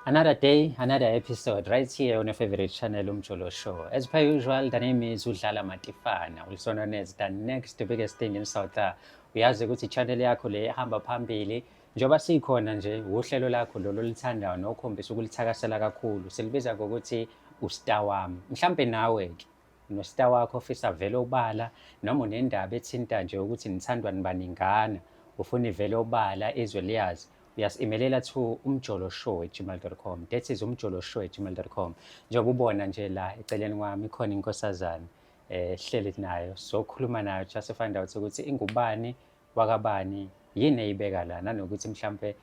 Another day, another episode, right here on your favorite channel, Umjolo Show. As per usual, the name is Udlala Matifana, also known as the next biggest thing in South Africa. Uyazi ukuthi channel yakho le ihamba phambili njengoba sikhona nje uhlelo lakho lolu olithandayo nokhombisa ukulithakasela kakhulu. Silibiza ngokuthi uStar wami. Mhlambe nawe ke nostar wakho ofisa vele obala noma unendaba ethinta nje ukuthi nithandwa nibaningana ufuna ivele obala izwe liyazi uyasimelela to umjolo show gmail.com that is umjolo show gmail.com njengoba ubona nje la eceleni kwami khona inkosazana eh hleli nayo sokhuluma nayo just to find out ukuthi ingubani wakabani yini eyibeka la nanokuthi mhlambe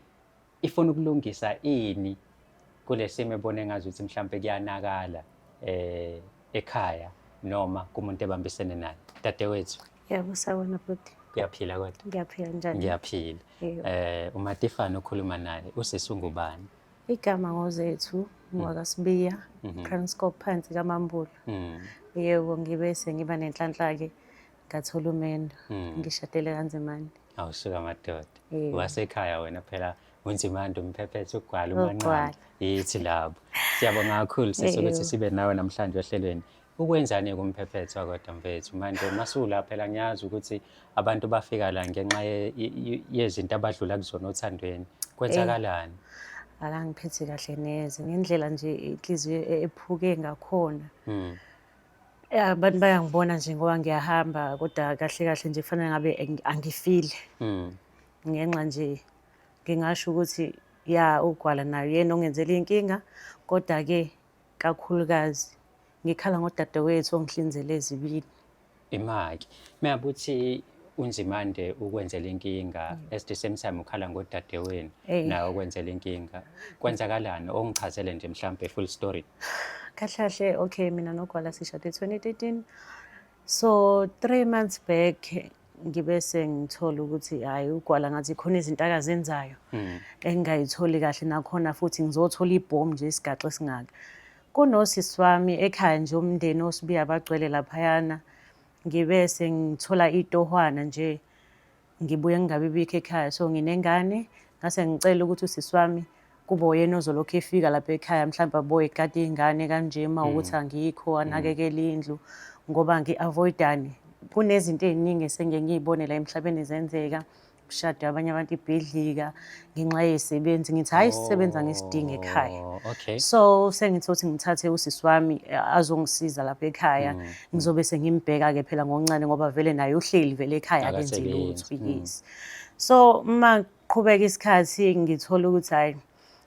ifuna ukulungisa ini kulesimo ebone ngazi ukuthi mhlawumbe kuyanakala eh ekhaya noma kumuntu ebambisene naye dadewethu yebo sawona bhuti kuyaphila kodwa ngiyaphila njani ngiyaphila eh umatifana okhuluma naye usisi ungubani igama ngozethu mm. ngwakasibiya mm-hmm. Kranskop phansi kamambulo mm. yebo ngibe sengiba nenhlanhla ke ngathola umendo mm. ngishadele kanzimane awusuka madoda Eh. wasekhaya wena phela unzimande umphephethe ugwala Ugwala. umanqane yithi labo siyabonga kakhulu sisi ukuthi Ewu. sibe nawe namhlanje ohlelweni ukwenzani kumphephethe wakodwa mfethu manje masula phela ngiyazi ukuthi abantu bafika la ngenxa ye- ye- ye- yezinto abadlula kuzona othandweni kwenzakalani akangiphethi kahle neze ngendlela nje inhliziyo e- ephuke ngakhona Mm. Ya abantu bayangibona nje ngoba ngiyahamba kodwa kahle kahle nje kufanele ngabe ang- angifile Mm. ngenxa nje ngingasho ukuthi ya ugwala nayo yena ongenzela inkinga kodwa ke kakhulukazi ngikhala ngodadewethu ongihlinzele ezibini Imaki. Meyabuthi unzimande ukwenzela inkinga mm. as the same time ukhala ngodadewenu nawe ukwenzela inkinga kwenzakalani ongichazele nje mhlampe full story kahlahle okay mina nogwala sishade 2013 so three months back ngibe sengithola ukuthi hayi ugwala ngathi khona izinto akazenzayo mm. engingayitholi kahle nakhona futhi ngizothola ibhomu nje isigaxo esingaka kunosisi wami ekhaya nje umndeni osibiya abagcwele laphayana ngibe sengithola itohwana nje ngibuye ngingabi bikho ekhaya so nginengane ngase ngicela ukuthi usisi wami kube uyena ozolokhu efika lapha ekhaya mhlawumbe aboye kade iy'ngane kanje uma mm. ukuthi angikho mm. anakekele indlu ngoba ngi-avoidani kunezinto ey'ningi esengike ngiy'bone la emhlabeni zenzeka kushade abanye abantu ibhidlika ngenxa yesebenzi ngithi hayi sisebenza ngesidingo ekhaya Oh, okay. so sengithi ukuthi ngithathe usisi wami eh, azongisiza lapha ekhaya Mm, ngizobe sengimbheka-ke phela ngoncane ngoba vele naye uhleli vele ekhaya akenzi Akasebenzi, lutho mm. yes so uma qhubeka isikhathi ngithola ukuthi hhayi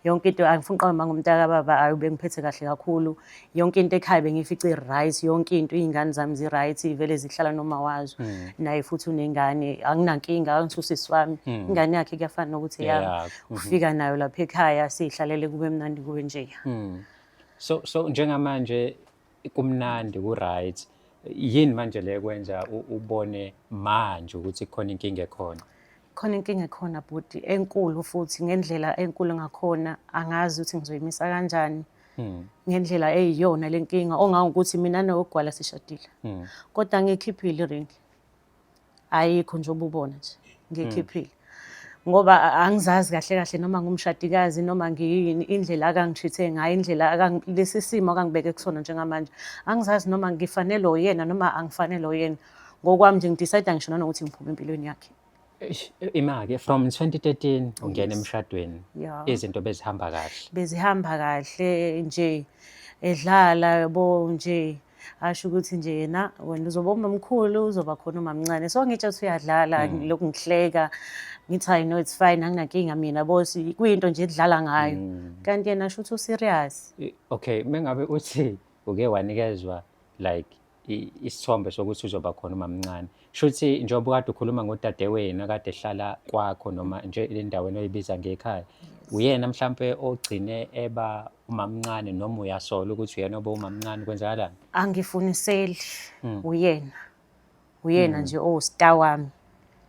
yonke into angifuni qaba manga umntaka baba ayi bengiphethe kahle kakhulu yonke into ekhaya bengifice right yonke into izingane zami zi right ivele zihlala noma wazo hmm. naye futhi unengane anginankinga angisusisi wami hmm. ingane yakhe kuyafana nokuthi yami hmm. ufika nayo lapha ekhaya sihlalele kube mnandi kube nje so so njengamanje kumnandi ku-right yini manje le kwenza ubone manje ukuthi khona inkinga ekhona khona inkinga ekhona bhuti enkulu futhi ngendlela enkulu ngakhona angazi ukuthi ngizoyimisa kanjani hmm. ngendlela eyiyona le nkinga ongangokuthi mina nowogwala sishadile hmm. kodwa ngikhiphile iringi ayikho nje ububona nje ngikhiphile ngoba angizazi kahle kahle noma ngumshadikazi noma ngiyini indlela akangishithe ngayo indlela lesi simo akangibeke kusona njengamanje angizazi noma ngifanele oyena noma angifanele oyena ngokwami nje ngidecide ngisho nanokuthi ngiphume empilweni yakhe imake from 2013 ungena emshadweni izinto bezihamba kahle bezihamba kahle nje edlala yabo nje asho ukuthi nje yena wena uzoba umamkhulu uzoba khona umamncane so ngitshe ukuthi uyadlala mm. lokhu ngihleka ngithi hayi no it's fine anginankinga mina bosi kuyinto nje edlala ngayo mm. kanti yena asho ukuthi userious okay mengabe uthi uke wanikezwa like isithombe sokuthi uzoba khona umamncane Shuthi njengoba kade ukhuluma ngodadewenu akade ehlala kwakho noma nje endaweni oyibiza ngekhaya. Uyena mhlampe ogcine eba umamncane noma uyasola ukuthi uyena oba umamncane kwenzakalani? Angifuniseli hmm. uyena. Uyena hmm. nje owusta wami.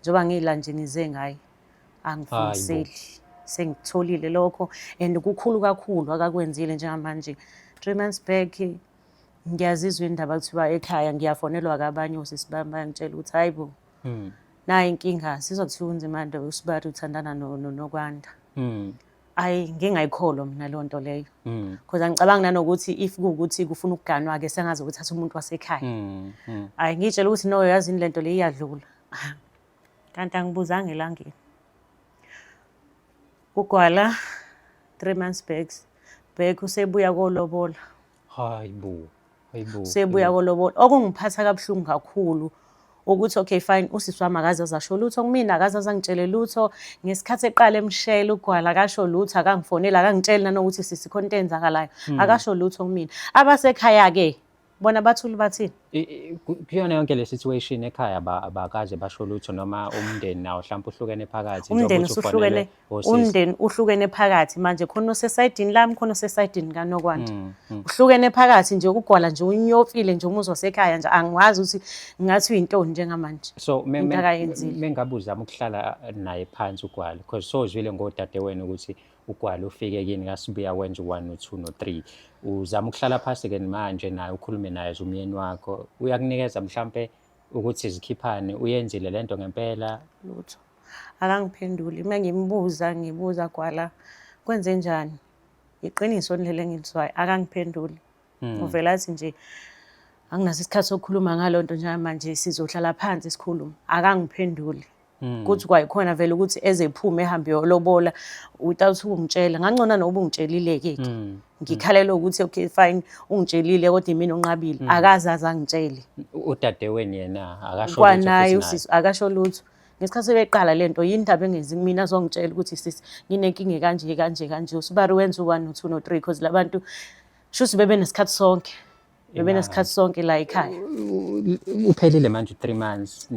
Njengoba ngila nje ngize ngaye. Angifuniseli. Sengitholile lokho and kukhulu kakhulu akakwenzile njengamanje. 3 months back ngiyazizwa indaba kuthiwa ekhaya ngiyafonelwa kabanye osisi bami bayangitshela ukuthi hayi bo hmm. nayi inkinga sizwa kuthiwa unzima nto usibari uthandana nokwanda hmm. ayi ngingayikholwa mina leyo nto leyo because hmm. angicabangi nanokuthi if kuwukuthi kufuna ukuganwa-ke sengazi ukuthi athi umuntu wasekhaya ayi ngiyitshela ukuthi no yazini le nto le iyadlula kanti angibuzanga elangeni Ugwala three months back back usebuya kolobola. Hayi bo. Hayi bo. Usebuya kolobola. Okungiphatha kabuhlungu kakhulu ukuthi okay fine usisi wami akaze azasho lutho kumina akaze azangitshele lutho ngesikhathi eqala emshela ugwala akasho lutho akangifoneli akangitsheli nanokuthi sisi khona into eyenzakalayo hmm. akasho lutho kumina abasekhaya-ke bona bathuli bathini kuyona yonke le situation ekhaya abakaze basho lutho noma umndeni nawo mhlawumbe uhlukene phakathi umndeni usuhlukene umndeni uhlukene phakathi manje khona osesayidini lami khona osesayidini kanokwanda mm, mm. uhlukene phakathi nje ukugwala nje unyofile nje umuzwa sekhaya nje angiwazi ukuthi ngathi uyintoni njengamanje so mengabe uzama ukuhlala naye phansi ugwala because sozwile ngodadewenu ukuthi ugwala ufike kini kasibuya wenza u-one no-two no-three uzama ukuhlala phasi ke manje naye ukhulume naye as umyeni wakho uyakunikeza mhlampe ukuthi zikhiphane uyenzile lento ngempela lutho akangiphenduli uma ngimbuza ngibuza gwala kwenze njani iqiniso leli engilizwayo akangiphenduli hmm. uvela athi nje anginaso isikhathi sokukhuluma ngalonto njengamanje sizohlala phansi sikhulume akangiphenduli Hmm. kuthi kwayikhona vele ukuthi ezephume ehambe yolobola without ukumtshela ngangcona noba ungitshelile-ke ke hmm. ngikhalelwe ukuthi okay fine ungitshelile kodwa imina onqabile hmm. akaze aze angitshele udadeweni yena akashokwanaye usisi akasho lutho ngesikhathi sebeqala le nto yini ndaba engenzi kumina azongitshela ukuthi sisi nginenkinga kanje kanje kanje usibari wenza u-one no-two no-three because labantu shuthi bebe nesikhathi sonke Bebe nesikhathi sonke la ekhaya. Uphelile manje 3 months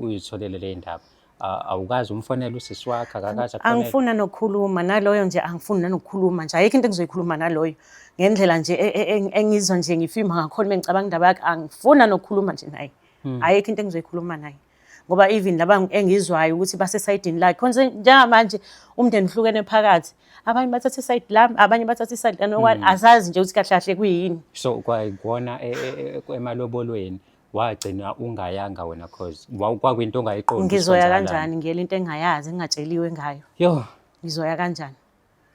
uyitholele le ndaba. Awukazi umfonela usisi wakhe akakazi akhona. Angifuna nokukhuluma naloyo nje angifuni nanokukhuluma nje. Ayikho into engizoyikhuluma naloyo. Ngendlela nje e, e, e, engizwa nje ngifima ngakhona mengicabanga indaba yakhe angifuna nokukhuluma nje naye. Hmm. Ayikho into engizoyikhuluma naye. ngoba even laba engizwayo ukuthi basesayidini lakhe khonze njengamanje umndeni uhlukene phakathi abanye bathatha isayidi lami abanye bathatha isayidi lami okwani hmm. asazi nje ukuthi kahle kahle kuyini so kwayikona e, e, e, emalobolweni wagcina ungayanga wena cause kwakwinto ongayiqondi ngizoya kanjani ngiyela into engayazi engingatsheliwe ngayo yo ngizoya kanjani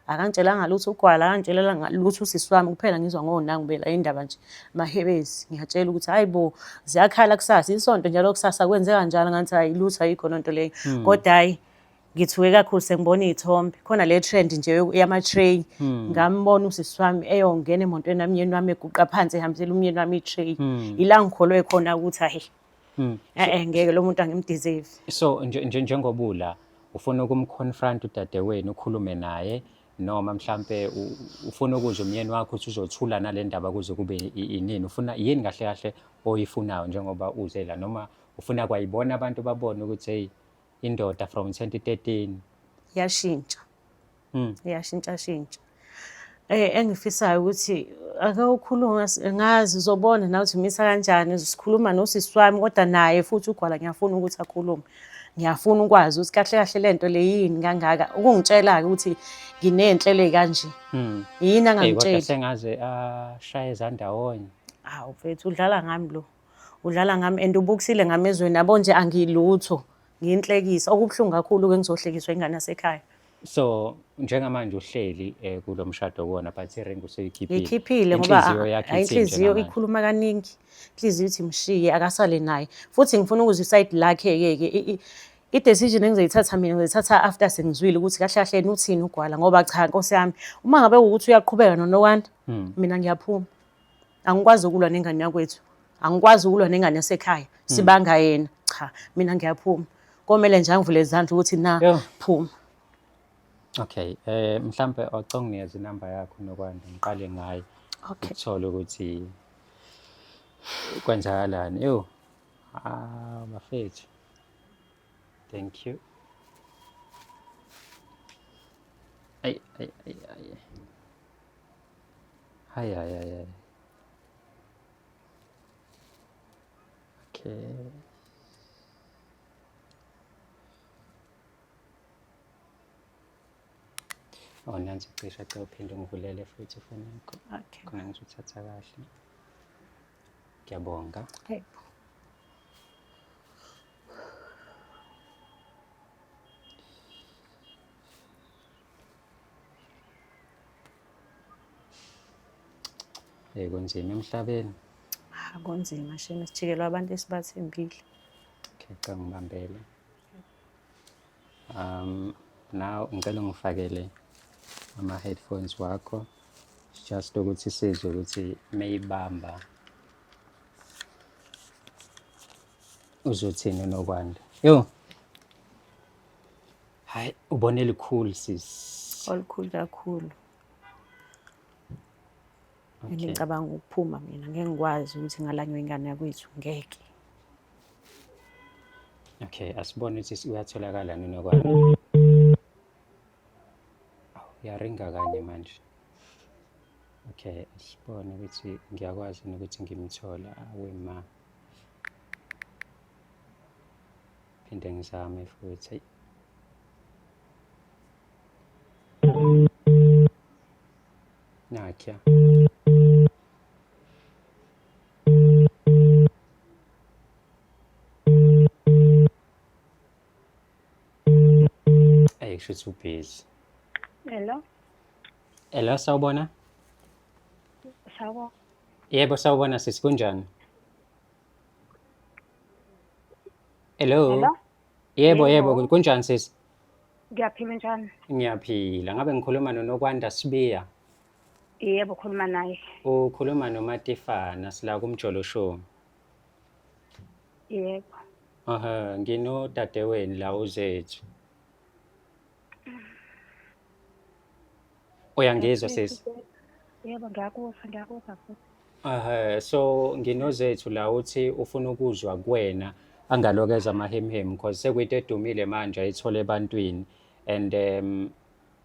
akangitshelanga lutho ugwala akangitshelela lutho usisi wami kuphela ngizwa ngonangu bela indaba nje mahebezi ngiyatshela ukuthi hayi bo ziyakhala kusasa isonto njalo kusasa kwenzeka njalo ngathi hayi lutho ayikho lonto leyo hmm. kodwa hayi ngithuke kakhulu sengibona iy'thombe khona le trend nje yama-tray hmm. ngambona usisi wami eyongena emotweni yami umyeni wami eguqa phansi ehambisela umyeni wami i-tray hmm. ila ngikholwe khona ukuthi ahi Mm. Eh eh ngeke lo muntu angimdeserve. So njengobula ufuna ukumconfront udadewenu ukhulume naye noma mhlambe ufuna ukuzwa umyeni wakho ukuthi uzothula nalendaba kuze kube inini ufuna yini kahle kahle oyifunayo njengoba uze la noma ufuna kwayibona abantu babone ukuthi hey indoda from 2013 yashintsha mm. iyashintshashintsha um eh, engifisayo ukuthi ake ukhulume ngazi uzobona nawe ukuthi umisa kanjani sikhuluma nosisi wami kodwa naye futhi ugwala ngiyafuna ukuthi akhulume ngiyafuna ukwazi ukuthi kahle kahle le nto le yini kangaka ukungitshela-ke ukuthi nginey'nhlelo ey'kanje hmm. yini angangitsheli sengaze ashaye ezandawonye hawu mfethu udlala ngami lo udlala ngami and ubukisile ngamezweni yabo nje angilutho ngiyinhlekisa okubuhlungu kakhulu-ke ngizohlekiswa ingane yasekhaya so njengamanje uhleli eh, kulo mshado kuwona but iring useyikhiphile ngikhiphile ngoba Inhliziyo yakhe hayi, ithini inhliziyo njengamanje? ikhuluma kaningi inhliziyo ithi mshiye akasale naye futhi ngifuna ukuzwa isayidi lakhe-ke ke i- i- i-decision engizoyithatha mina ngizoyithatha after sengizwile ukuthi kahle kahle yena uthini ugwala ngoba cha nkosi yami uma ngabe ukuthi uyaqhubeka nonokwanda mina ngiyaphuma angikwazi ukulwa nengane yakwethu angikwazi ukulwa nengane yasekhaya hmm. sibanga yena cha mina ngiyaphuma komele nje angivule izandla ukuthi na phuma okay eh mhlambe oconginikeza inamba yakho nokwanda ngiqale ngayo okay uthole ukuthi kwenzakalani ewu ah bafethu thank you ay ay ay ay Hay hay hay hay. Okay. Oh, nansi cisha cha uphinde ungivulele futhi ifoni yakho. Okay. Khona ngizothatha kahle. Ngiyabonga. Hey. Eh kunzima emhlabeni. Ah kunzima shame sijikelwa abantu esibathembile. Okay, cha ngibambele. Um now ngicela ngifakele ama headphones wakho just ukuthi sizwe ukuthi meyibamba uzothini nokwanda. Yo. Hayi ubone likhulu sis. Olukhulu kakhulu. Okay. Ngicabanga ukuphuma mina ngeke ngikwazi ukuthi ngalanywa ingane yakwethu ngeke. Okay, asibone ukuthi uyatholakala nini kwani. Awu yaringa kanye manje. Okay, asibone ukuthi ngiyakwazi ukuthi ngimthola awe ma. Phinde ngizame futhi ayi. Nakya. Ayi kusho ukuthi ubhizi. Hello. Hello sawubona? Sawubona. Yebo sawubona sisi kunjani? Hello. Hello? Yebo yebo Yebo. kunjani sisi? Ngiyaphila njani? Ngiyaphila. Ngabe ngikhuluma noNokwanda Sibiya. Yebo khuluma naye. Ukhuluma noMatifana sila kumjolo show. Yebo. Aha, nginodadewenu la uzethu. uyangizwa sesi yebo ngiyakuzwa ngiyakuzwa futhi Ehhe, so nginozethu la uthi ufuna ukuzwa kuwena angalokeza amahemhem because sekuyinto edumile manje ayithole ebantwini and um,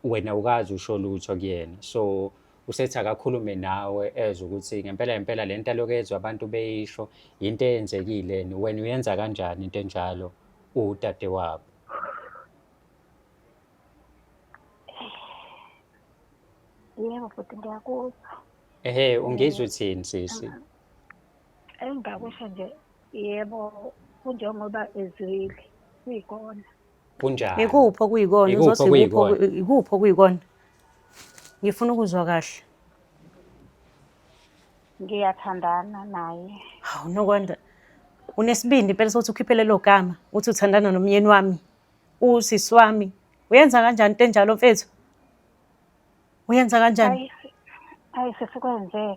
wena ukazi usho lutho kuyena so usethi akakhulume nawe ezwe ukuthi ngempela ngempela le nto alokezwa abantu beyisho yinto eyenzekile wena uyenza kanjani into enjalo udade wabo Yebo futhi ngiyakuzwa. Ehe, ungizwe thini sisi? Engingakusho nje yebo kunjengoba ezwile kuyikona. Kunjani? Ikuphi okuyikona? Ikuphi Uzothi ikuphi okuyikona? oku- ikuphi okuyikona? Ngifuna ukuzwa kahle. Ngiyathandana naye. Hawu nokwanda. Unesibindi impela sokuthi ukhiphe lelo gama uthi uthandana nomyeni wami. usisi wami uyenza kanjani into enjalo mfethu uyenza kanjani ayi sesikwenzeka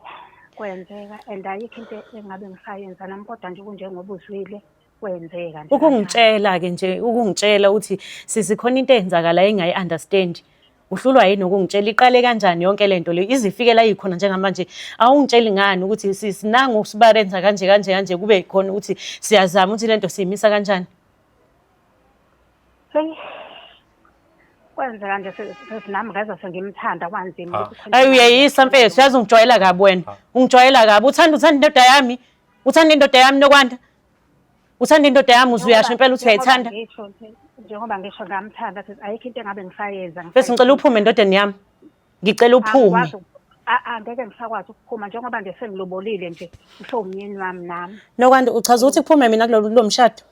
kwenzeka and ayikho into engabe ngisayenza nami kodwa nje kunjengoba uzwile kwenzeka nje ukungitshela ke nje ukungitshela ukuthi sisikhona into eyenzakala engayi understand uhlulwa yini ukungitshela iqale kanjani yonke le nto le izifikela yikhona njengamanje awungitsheli ngani ukuthi sisinanga usibarenza kanje kanje kanje kube yikhona ukuthi siyazama ukuthi le nto siyimisa kanjani Hey. Kwenzeka nje sesinami ngeza sengimthanda kwanzima. Ah. Ayi uyeyisa mfethu, yazi ungijwayela kabi wena. Ah. Ungijwayela kabi. Uthanda uthanda indoda yami. Uthanda indoda yami nokwanda. Uthanda indoda yami uzuyasho impela uthi uyayithanda. Njengoba ngisho ngamthanda sithi ayikho into engabe ngisayenza. Mfethu ngicela uphume endodeni yami. Ngicela uphume. Angeke ngisakwazi ukuphuma njengoba nje sengilobolile nje usho umyeni wami nami. Nokwanda uchaza ukuthi kuphume mina kulomshado.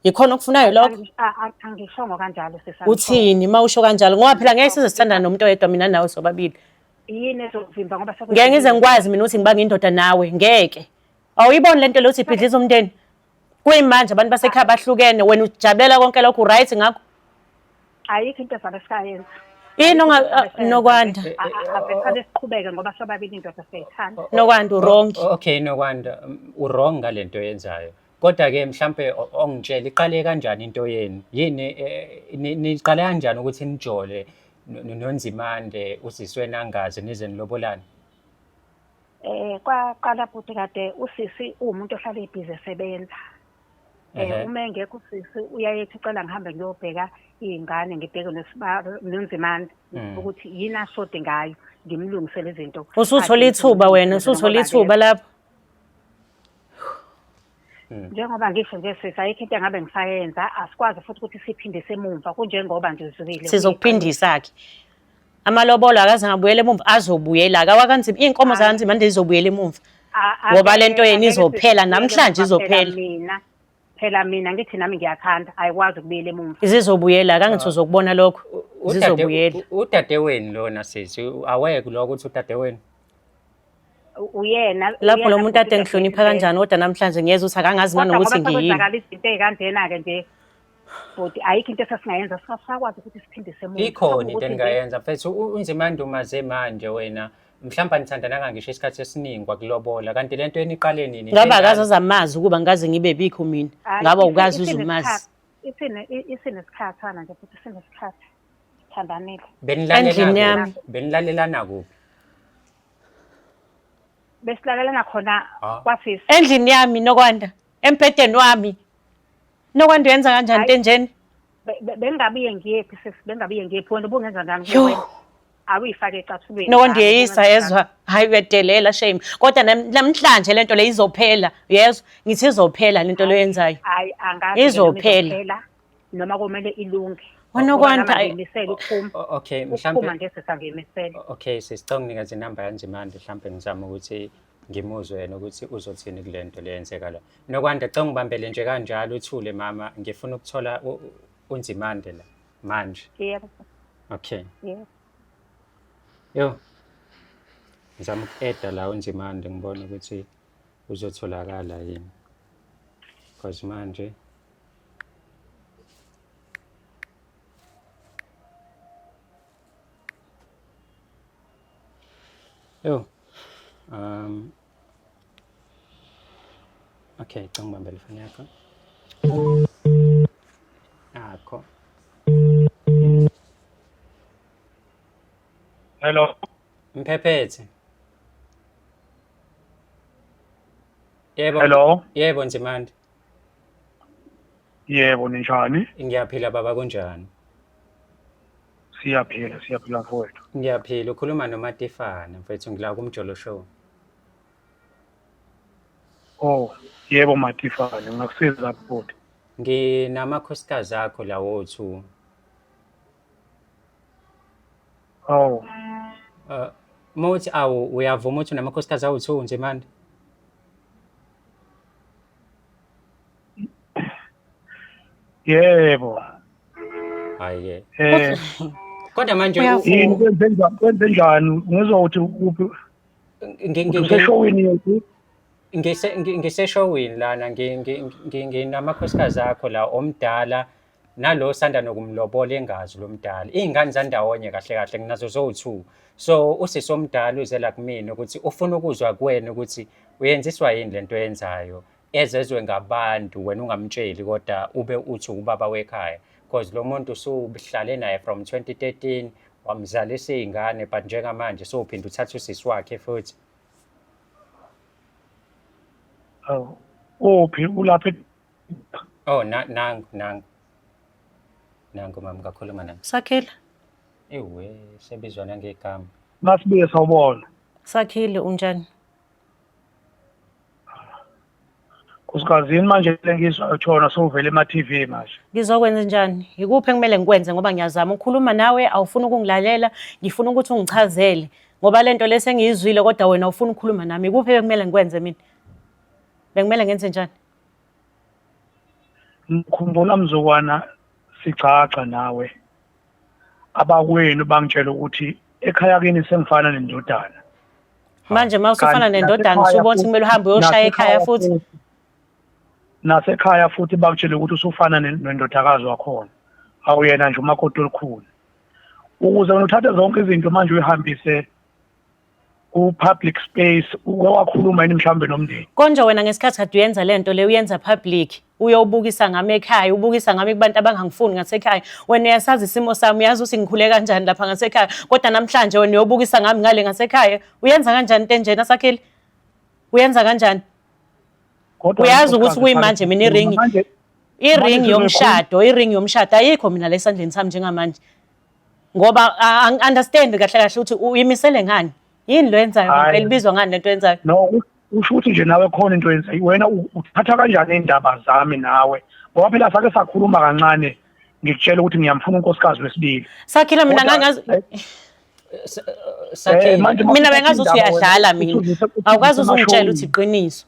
yikhona okufunayo lokho angishongo kanjalo sisa uthini uma usho kanjalo ngoba phela ngeke size sithandana nomuntu oyedwa mina nawe sobabili yini ezovimba ngoba ngeke ngize ngikwazi mina ukuthi ngibanga indoda nawe ngeke awuyiboni lento lokuthi ibhidliza umndeni kuyimanje abantu basekhaya bahlukene wena ujabulela konke lokho uright ngakho ayikho into ezabe sikayenza yini nokwanda avesane siqhubeke ngoba sobabili indoda siyayithanda nokwanda urongi okay nokwanda urong ngalento yenzayo Kodwa ke mhlambe ongitshela iqale kanjani into yenu? Yini eh, ni- niqale kanjani ukuthi nijole no- no- noNzimande usiswe nangazi nize nilobolane? Eh kwaqala futhi kade usisi uwumuntu ohlala ibhizi esebenza. Eh Ehhe. uma engekho usisi uyayethi ucela ngihambe ngiyobheka izingane ngibheke nesibalo nonzimande Mm. ukuthi yini ashode ngayo ngimlungisele izinto. Usuthole Athi ithuba ngimlungisele wena, usuthole ngoba ithuba lapho. Mm. njengoba ngisho nje sisi ayikho into engabe ngisayenza asikwazi futhi ukuthi siphindise emumva kunjengoba nje uzwile sizokuphindisa-ke amalobolo akaze ngabuyela emumva azobuyela akawakanzima iy'nkomo zakanzima nje zizobuyela emumva ngoba le nto yena izophela namhlanje izophela mina phela mina ngithi nami ngiyakhanda ayikwazi ukubuyela emumva zizobuyela kangithi ah. uzokubona lokho zizobuyela udadewenu lona sisi aweke lokho ukuthi udadewenu uyena lapho lo muntu ade ngihlonipha kanjani kodwa namhlanje ngiyeza ukuthi akangazi nanokuthi ngiyini izinto ey'kanjena-ke nje bhuti ayikho into esasingayenza sasakwazi ukuthi siphindise muntu ikhona into endingayenza mfethu unzima andumaze manje wena mhlawumbe anithandananga ngisho isikhathi esiningi kwakulobola kanti le nto eniqale nini ngabe akazi azamazi ukuba ngaze ngibe bikho mina ngabe ukazi uzumazi isinesikhathana nje futhi sinesikhathi Sithandanile. Benilalelana Endlini kuphi? yami. Benilalelana kuphi? Besilalelana khona Ah. kwasisi. endlini yami nokwanda embhedeni wami nokwanda uyenza kanjani Hayi. ntenjeni Be- be- Bengingabuye ngiyephi sisi, bengingabuye ngiyephi wena ubungenza njani Yo. kuwena? Awuyifake ecathulweni. nokwanda Hayi, uyeyisa ubungenza yezwa hhayi uyadelela shame kodwa nam- namhlanje le nto le izophela yezwa ngithi izophela le nto le oyenzayo njani. Hayi angazi ke noma Izophela. izophela. noma komele ilunge Wanokwanda, ayi- ngimisele ukuphuma O- okay ukuphuma mhlampe nje sesangimisele o- okay sisicela unginika nje inamba yanje manje mhlampe ngizama ukuthi ngimuzwe yena ukuthi uzothini kule nto le yenzeka la nokwanda cela ngibambele nje kanjalo uthule mama ngifuna ukuthola u- u- unzimande la manje yebo okay yebo yo ngizama uku-eda la unzimande ngibone ukuthi uzotholakala yini because manje Yo. Um. Okay, cang bambel fan yakho. Ako. Hello. Mphephethe. Yebo. Hello. Yebo Nzimande. Yebo ninjani? Ngiyaphila baba kunjani? Siyaphila, siyaphila mfowethu. Ngiyaphila ukhuluma noMatifana mfethu ngila kumjolo show. Oh, yebo Matifane, ngakusiza bhuti. Nginamakhosikazi akho lawo two. Oh, Uh, mothi awu uyavuma ukuthi unamakhosikazi awu two nje manje. yebo hayi eh kodwa manje yini kwenze njani kwenze njani ngizwa ukuthi kuphi ngeshowini yethu ngiseshowini lana nginamakhosikazi akho la omdala nalo sanda nokumlobola engazi lo mdala iy'ngane zandawonye kahle kahle nginazo zowu-two so usisi omdala uzela kumina ukuthi ufuna ukuzwa kuwena ukuthi uyenziswa yini le nto yenzayo ezezwe ngabantu wena ungamtsheli kodwa ube uthi ubaba wekhaya because lo muntu usuhlale naye from 2013 wamzalisa iy'ngane but njengamanje sowuphinde uthatha usisi wakhe futhi awu uphi ulapha Oh, na nangu nangu. Nangu mama ngakhuluma naye. Sakhile. Ewe, sebizwa nangegama. Masibuye sawubona. Sakhile unjani? Usikazini manje lengizwa uthona sowuvele ema TV manje. Ngizokwenza njani? Yikuphi ekumele ngikwenze ngoba ngiyazama ukukhuluma nawe awufuni ukungilalela, ngifuna ukuthi ungichazele ngoba lento lesi engiyizwile kodwa wena ufuna ukukhuluma nami. Yikuphi ekumele ngikwenze mina? Bekumele ngenze njani? Ngikhumbula mzukwana sigcagca nawe abakwenu bangitshela ukuthi ekhaya kini sengifana nendodana manje uma usufana nendodana usubona ukuthi kumele uhambe uyoshaya ekhaya futhi nasekhaya futhi bakutshele ukuthi usufana nendodakazi wakhona awuyena nje umakoti olukhulu ukuze uthathe zonke izinto manje uyihambise ku public space uke wakhuluma yini mhlawumbe nomndeni konje wena ngesikhathi kade uyenza lento le uyenza public uyobukisa ngami ekhaya ubukisa ngami kubantu abangangifuni ngasekhaya wena uyasazi isimo sami uyazi ukuthi ngikhule kanjani lapha ngasekhaya kodwa namhlanje wena uyobukisa ngami ngale ngasekhaya uyenza kanjani into enjena sakhile uyenza kanjani Kodwa uyazi ukuthi unkosikazi kuyimanje mina iringi manje- iringi manje yomshado iringi yomshado ayikho mina la esandleni sami njengamanje ngoba angi-understand kahle kahle ukuthi uyimisele ngani yini lo yenzayo Hhayi. ngempela ibizwa ngani lento yenzayo no u- usho ukuthi nje nawe khona into yenza wena u- uthatha kanjani iy'ndaba zami nawe ngoba phela sake sakhuluma kancane ngikutshela ukuthi ngiyamfuna unkosikazi wesibili sakhile mina Kodwa- ngangazi Eh, Sakhile. manje uma mina uthatha bengazi ukuthi iy'ndaba wena, uyadlala mina uthulise- uthulise awukwazi amashowini. uzungitshela ukuthi iqiniso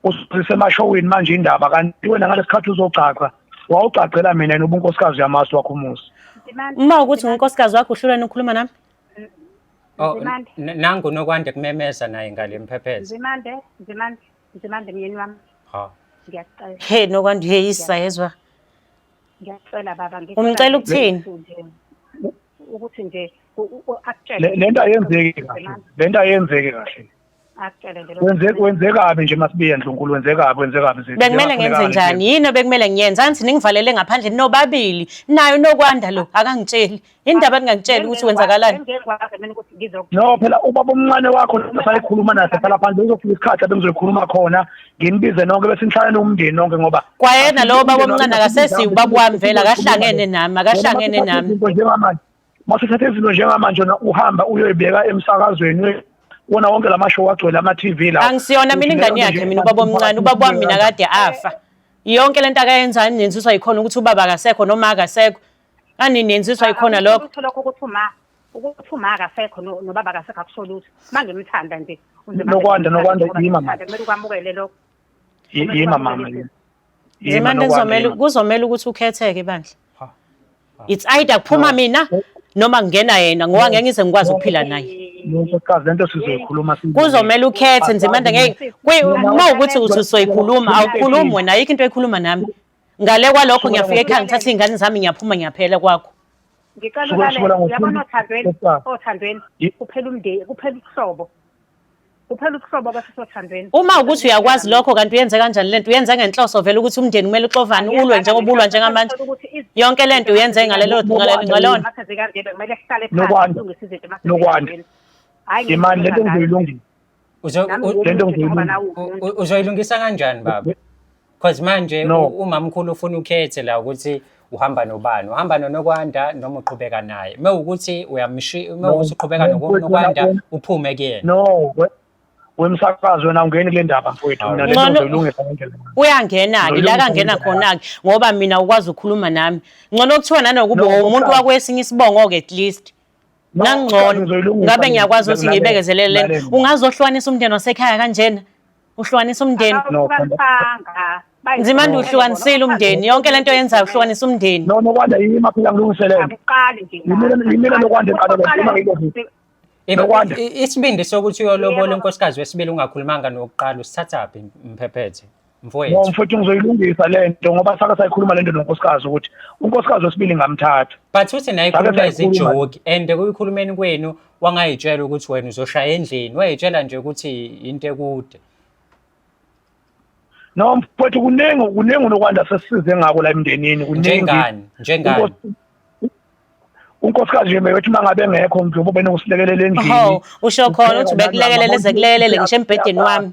usise emashowini manje indaba kanti wena ngalesikhathi uzogcagca wawugcagcela mina yena ubunkosikazi yamasu wakho umuzi uma ukuthi ngunkosikazi wakho uhlulweni ukhuluma nami Oh, Nzimande. n- nangu nokwande kumemeza naye ngale mphepheza Nzimande, Nzimande, Nzimande myeni wami. ha Ngiyacela, he nokwandi uyeyisa yezwa ngiyacela baba ngicela Umcela nje ukuthini? ukuthi nje- u- Ukuthi nje u- u- u- akutshele. Le- lento ayenzeki kahle Nzimande, lento ayenzeki kahle akutshele nje Wenze wenzekabi nje masibiye ndlunkulu wenzekabi wenzekabi zethu. bekumele ngenze njani yini obekumele ngiyenze angithi ningivalele ngaphandle nobabili nayo nokwanda lo akangitsheli indaba ningangitsheli ukuthi wenzakalani engekwazi mina ukuthi ngizok No phela ubaba omncane wakho sayikhuluma naye sala phandle uzofika isikhathi abengizoyikhuluma khona nginibize nonke bese nihlalane umndeni nonke ngoba kwayena lowo baba omncane akasesi ubaba wami vele akahlangene nami akahlangene nami Izinto njengamanje masithathe izinto njengamanje na uhamba uyoyibeka emsakazweni we- wona wonke la mashow agcwele ama-tv la angisiyona mina ingane yakhe mina ubaba omncane ubaba wami mina kade afa yonke lento akayenzayo ninenziswa yikhona ukuthi ubaba akasekho noma akasekho ani nenziswa yikhona lokho Ukuthi lokho ukuthi uma ukuthi uma akasekho no- nobaba akasekho akusho lutho manje umthanda nje Nokwanda, Nokwanda, yima, mama. kumele ukwamukele lokho Yi- yima mama yima. Ndimane kuzomele kuzomele ukuthi ukhetheke bandla. It's either kuphuma mina noma kungena yena ngoba ngeke ngize ngikwazi ukuphila naye. Nkokazi lento sizoyikhuluma kuzomele ukhethe Nzimande ngeke uma ukuthi uthi usoyikhuluma awukhulumi wena ayikho into ekhuluma nami ngale kwalokho ngiyafika ekhaya ngithatha iy'ngane zami ngiyaphuma ngiyaphela kwakho ngicela ukale yabona othandweni othandweni kuphela umndeni kuphela ubuhlobo kuphela ubuhlobo abafisa othandweni uma ukuthi uyakwazi lokho kanti uyenze kanjani lento uyenze ngenhloso vele ukuthi umndeni kumele uxovane ulwe njengoba ulwa njengamanje yonke lento uyenze ngalelo ngalona kumele sihlale phansi silungise izinto nokwanda hayi imani lento ngizoyilungisa lento ngizoyilungisa uzoyilungisa kanjani baba Cause manje No. u- umamkhulu ufuna ukhethe la ukuthi uhamba nobani. Uhamba noNokwanda noma uqhubeka naye. Mewukuthi uyamshi No. mewukuthi uqhubeka No, mfowethu, noNokwanda wena- uphume kuyena. no we- wemsakazi wena awungeni kule ndaba mfowethu mina Hawu. lento Ngcono- ngizoyilungisa ngendlela uyangena-ke Nolunye la kangena umuntu khona-ke ngoba mina ukwazi ukukhuluma nami ngcono kuthiwa nanokuba No, umuntu uqala. wakwesinye isibongo-ke at least No, uqala nangcono ngizoyilungisa ngabe mina. ngiyakwazi ukuthi Lalela, ngiyibekezelele lena lalela. ungazohlukanisa umndeni wasekhaya kanjena uhlukanisa umndeni Akawuhlukanisanga. Bayi- nzima nje uhlukanisile umndeni yonke lento yenzayo uhlukanisa umndeni no nokwanda yimi maphela ngilungiselele Akuqali nje. Yimina- yimina lokwanda eqala le- Akuqali. yimina ngiloku- If- Nokwanda. i- i- Isibindi sokuthi uyolobola Yebo. unkosikazi wesibili ungakhulumanga nokuqala usithathaphi mphephethe no mfowethu. mfowethu ngizoyilungisa le nto ngoba sake sayikhuluma le nto nonkosikazi ukuthi unkosikazi wesibili ngamthatha But uthi naye Sake ikhuluma sayikhuluma. izijoki and kuyikhulumeni kwenu wangayitshela ukuthi wena uzoshaya endlini wayitshela nje ukuthi into ekude no mfowethu kuningi kuningi unokwanda sesize ngako la emndenini kuningi njengani njengani unkosikazi nje beyothi uma ngabe engekho mntu ubene usilekelela endlini usho khona ukuthi ubekulekelela ezekulekelele ngisho embhedeni wami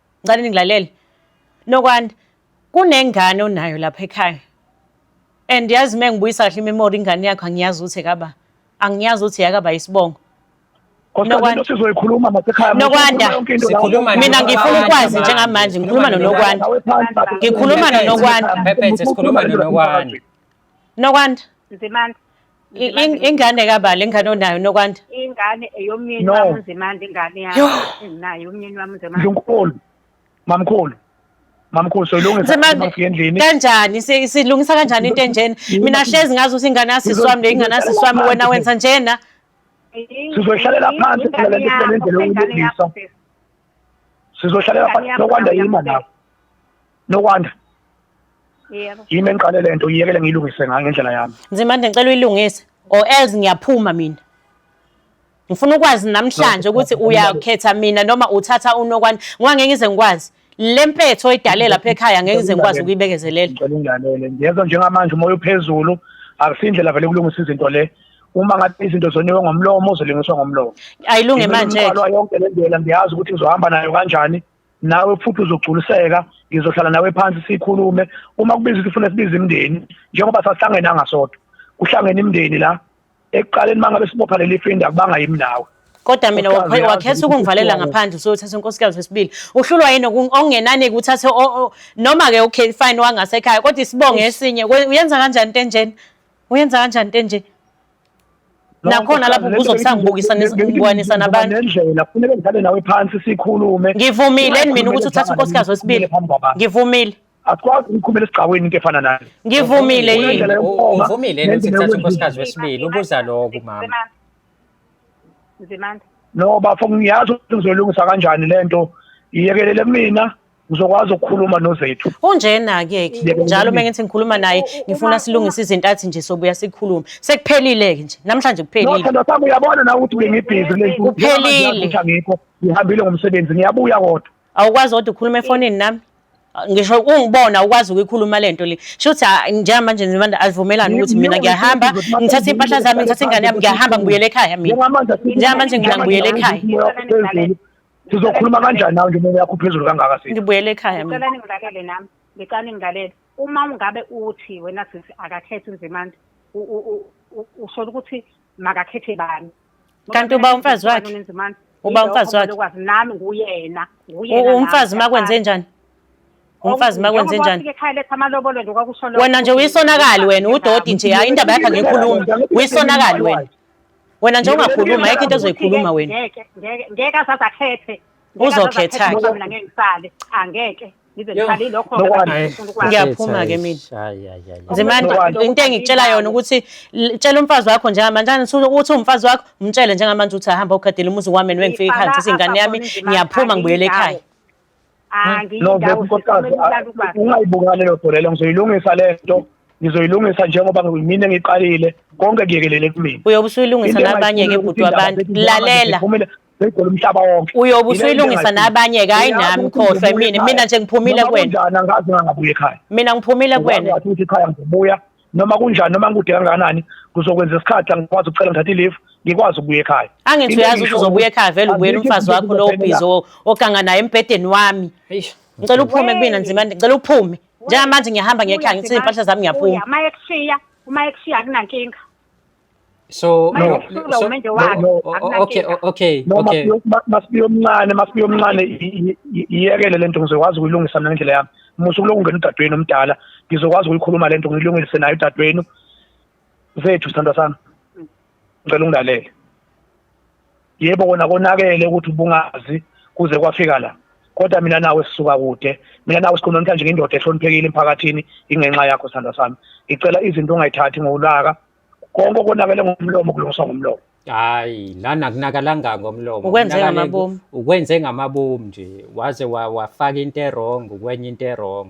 Ngicela ningilalele. Nokwani kunengane onayo lapha ekhaya. And yazi uma ngibuyisa kahle imemory ingane yakho angiyazi ukuthi ekaba. Angiyazi ukuthi yakaba isibongo. Nokwanda sizoyikhuluma nasekhaya Nokwanda sikhuluma mina ngifuna ukwazi njengamanje ngikhuluma noNokwanda ngikhuluma noNokwanda Pephethe sikhuluma noNokwanda Nokwanda Nzimande I- in- ingane kabala ingane onayo nokwanda ingane eyomyeni No. wami unzimande ingane Yho. yami enginayo umyeni wami unzimande Ndlunkulu. Mamkhulu. Mamkhulu soyilungisa Nzimande, mafika endlini. kanjani si- silungisa kanjani into enjena mina hlezi ngazi ukuthi ingane yasisi wami le ingane yasisi wami wena wenza njena Sizohlalela phansi phela le nto kulendlela yokulungisa. Sizohlalela phansi sokwanda yima lapho. Nokwanda. Yebo. Yimi engiqale lento iyekele ngilungise ngayo ngendlela yami. Nzimande ngicela uyilungise or else ngiyaphuma mina. Ngifuna ukwazi namhlanje ukuthi uyakhetha mina noma uthatha unokwanda ngoba ngeke ngize ngikwazi. Lempetho oyidale lapha ekhaya ngeke ngize ngikwazi ukuyibekezelela. Ngicela ungilalele. Ngiyezwa njengamanje umoya uphezulu akusindlela vele ukulungisa izinto le. uma ngathi izinto zoniwe ngomlomo uzolingiswa ngomlomo ayilunge manje yonke le ndlela ngiyazi ukuthi ngizohamba nayo kanjani nawe futhi uzogculiseka ngizohlala nawe phansi sikhulume uma kubiza ukuthi ufuna sibize imndeni njengoba sahlangene angasodwa kuhlangene imndeni la ekuqaleni mangabe sibopha leli fenda kubanga yimi nawe kodwa mina wakhetha ukungivalela ngaphandle usuyothatha unkosikazi wesibili uhlulwa yini okungenani kuthathe noma-ke okay fine wangasekhaya kodwa isibongo esinye uyenza kanjani into enjena uyenza kanjani into enje nakhona lapho ubuzo kusangibukisa ngibukwanisa nabantu nendlela kufuneka ngihlale nawe phansi sikhulume ngivumile mina ukuthi uthathe unkosikazi wesibili ngivumile asikwazi ukukhumela esigcaweni into efana nayo ngivumile yini uvumile yini ukuthi thatha unkosikazi wesibili ubuza lokhu mama nzimanda no bafo ngiyazi ukuthi ngizolungisa kanjani lento iyekelele mina ngizokwazi ukukhuluma nozethu unjena ke ke njalo uma ngithi ngikhuluma naye ngifuna silungise izinto athi nje sobuya sikhulume sekuphelile ke nje namhlanje kuphelile Nokho nokho uyabona na ukuthi bengibhizi lento Kuphelile. ngikho ngihambile ngomsebenzi ngiyabuya kodwa awukwazi kodwa ukhuluma efonini nami ngisho ungibona ukwazi ukuyikhuluma lento le shuthi njengamanje nibanda azivumelani ukuthi mina ngiyahamba ngithathe impahla zami ngithathe ingane yami ngiyahamba ngibuyele ekhaya mina njengamanje ngina ngibuyele ekhaya sizokhuluma kanjani nawe ngemoya yakho phezulu kangaka sisi ngibuyele ekhaya mina ngicela ningilalele nami ngicela ningilalele uma ungabe uthi wena sisi akakhethi nzimande u- u- u- u- usola ukuthi makakhethe bani Kanti uba umfazi wakhe? Nzimande, Uba yilokho umfazi wakhe? lokwazi nami nguyena nguyena U- nami, umfazi uma kwenze ngiyafana. njani umfazi uma kwenze Njengoba njani ufika ekhaya letha amalobolo nje kwakusho lokho wena nje ukuthi uyisonakali wena ngiyafana. udoti nje hayi indaba yakhe angiyikhulumi uyisonakali wena wena nje ungakhuluma yeke into ezoyikhuluma wena ngeke ngeke ngeke asaze akhethe uzokhetha ke mina ngeke ngisale angeke ngize ngiqale lokho ngiyaphuma ke mina nzimani into engikutshela yona ukuthi tshela umfazi wakho njengamanje ukuthi umfazi wakho umtshele njengamanje ukuthi ahamba ugadela umuzi wami niwengifika ekhaya ngizise ingane yami ngiyaphuma ngibuyele ekhaya Ah, ngiyi No, ndawo nkosikazi, sisomela ulaka ubaba. ungayibukani leyo nto leyo ngizoyilungisa le nto ngizoyilungisa njengoba mina ngiqalile konke kuyekelele kumina uyobe usuyilungisa Into nabanye ke engayifuni bhuti ukuthi wabantu indaba zethu lalela ziphumele zigcwele umhlaba wonke uyobe Yile into usuyilungisa engayifuni. nabanye ke hayi Uyazi nami ukuthi khohlwa ngizobuya mina ekhaya. mina nje ngiphumile Noma kuwena kunjani angazi ngangabuya ekhaya mina ngiphumile Uyazi kuwena ngathi ukuthi ekhaya ngizobuya noma kunjani noma ngikude kangakanani ngizokwenza isikhathi la ngikwazi ukucela ngithathe i-leave ngikwazi ukubuya ekhaya angithi uyazi ukuthi uzobuya ekhaya vele ubuyela umfazi wakho lowo bhizi oganga naye embhedeni wami ngicela uphume kumina nzima ngicela uphume njengamanje ngiyahamba ngiyekhaya ngithize iy'mpahla zami ngiyaphuma uma ekushiya uma ekushiya akunankinga So Manje no, usuku so lokumenje no, wakhe no. o- o- okay akunankinga. o- okay no okay masibiyo- ma- masibiyo omncane masibiyo omncane i- i- i- iyekele lento ngizokwazi ukuyilungisa mina ngendlela yami musa ukuloku ungena udadewenu omdala ngizokwazi ukuyikhuluma lento ngiyilungise naye udadewenu zethu sithandwa sami ngicela ungilalele yebo kona konakele ukuthi ubungazi kuze kwafika la kodwa mina nawe sisuka kude mina nawe sikhona namhlanje ngindoda ehloniphekile emphakathini ingenxa yakho sandla sami ngicela izinto ongayithathi ngolaka konke konakele ngomlomo kulungiswa ngomlomo hayi lana kunakalanga ngomlomo ukwenze ngamabomu ukwenze ngamabomu nje waze wafaka into erong ukwenye into erong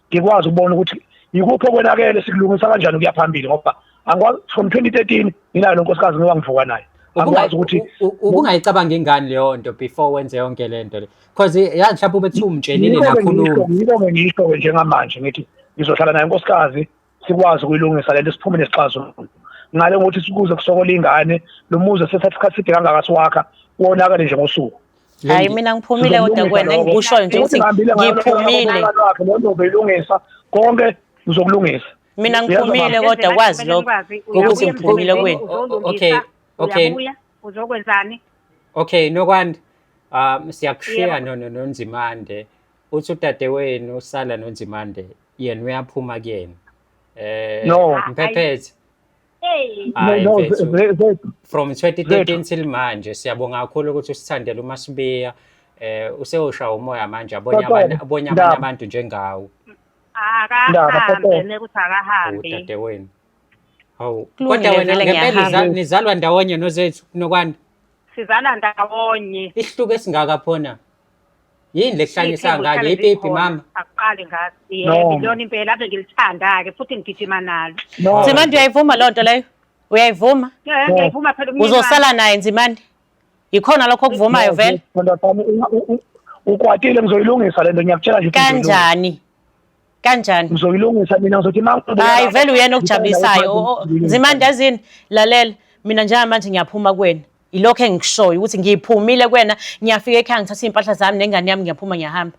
ngikwazi ukubona ukuthi yikuphi okwenakele sikulungisa kanjani ukuya phambili ngoba angikwazi from 2013 nginayo lo nkosikazi ngoba ngivuka naye angikwazi ukuthi ubungayicabangi ngani leyo nto before wenze yonke le nto le because yazi mhlawumbe ubethiwa umtshelile nakhuluma yiko-ke ngisho-ke njengamanje ngithi ngizohlala naye nkosikazi sikwazi ukuyilungisa lento siphume nesixazululo ngale ngokuthi sikuze kusokola ingane lo muzi sethatha isikhathi side kangaka siwakha wonakale nje ngosuku hayi mina ngiphumile kodwa kwena engikushoyo nje ukuthi ngiphumile lo nto belungisa konke uzokulungisa mina ngiphumile kodwa kwazi lokho ukuthi ngiphumile kwenu okay okay uzokwenzani okay nokwanda um siyakushiya nonzimande uthi udadewenu usala nonzimande yena uyaphuma kuyena eh No. mphephethe Hey, Hayi, no, mfethu. ze- ze- ze- from 2013 till manje siyabonga kakhulu ukuthi usithandele uma sibiya eh usewusha umoya manje abonye Kodwa, abanye abonye abanye Ndaba. abantu njengawe Ndaba, akahambe kodwa. nekuthi akahambi. udadewenu hawu Kulungile, kodwa wena vele ngempela ngiyahamba. niza- nizalwa ndawonye nozethu nokwanda Sizala ndawonye. isihluku esingaka phona yini lekuhlanyisa ngane yepipi mama akuqali ngazi No. yebo lona impela ave ngilithanda-ke futhi ngigijima nalo No. nzimande uyayivuma loo nto leyo uyayivuma Eh, ngiyayivuma phela umyeni wami. uzosala naye nzimande yikhona lokho okuvumayo vele Ntombazane, u- u- u- ukwatile ngizoyilungisa lento ngiyakutshela nje ukuthi ngizoyilungisa. kanjani kanjani ngizoyilungisa mina ngizothi hayi vele uyena okujabulisayo nzimande yazini lalela mina njengamanje ngiyaphuma kuwena ilokho engikushoyo ukuthi ngiphumile kuwena ngiyafika ekhaya ngithatha iy'mpahla zami nengane yami ngiyaphuma ngiyahamba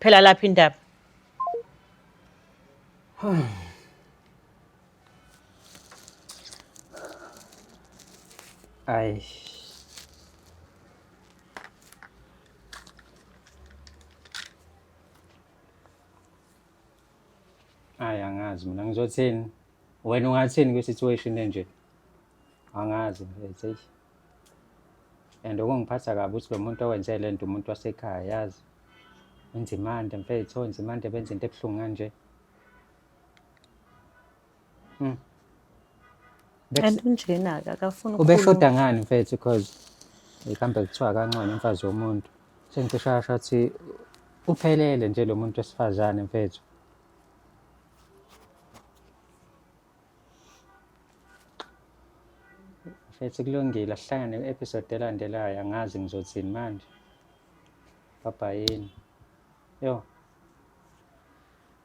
phela lapho indaba Ay. Hayi angazi mina ngizothini. Wena ungathini kwi situation enje? Angazi mfethu eish. And okungiphatha kabi ukuthi lo muntu owenze le nto umuntu wasekhaya yazi. Unzimande mfethu, unzimande benza into ebuhlungu kanje. Mm. And unjena ke akafuni ubeshoda ngani mfethu because ikambe kuthiwa kancane umfazi womuntu sengicisha asho ukuthi uphelele nje lo muntu wesifazane mfethu mfethu kulungile asihlangane kwi-episode elandelayo angazi ngizothini manje babhayini yo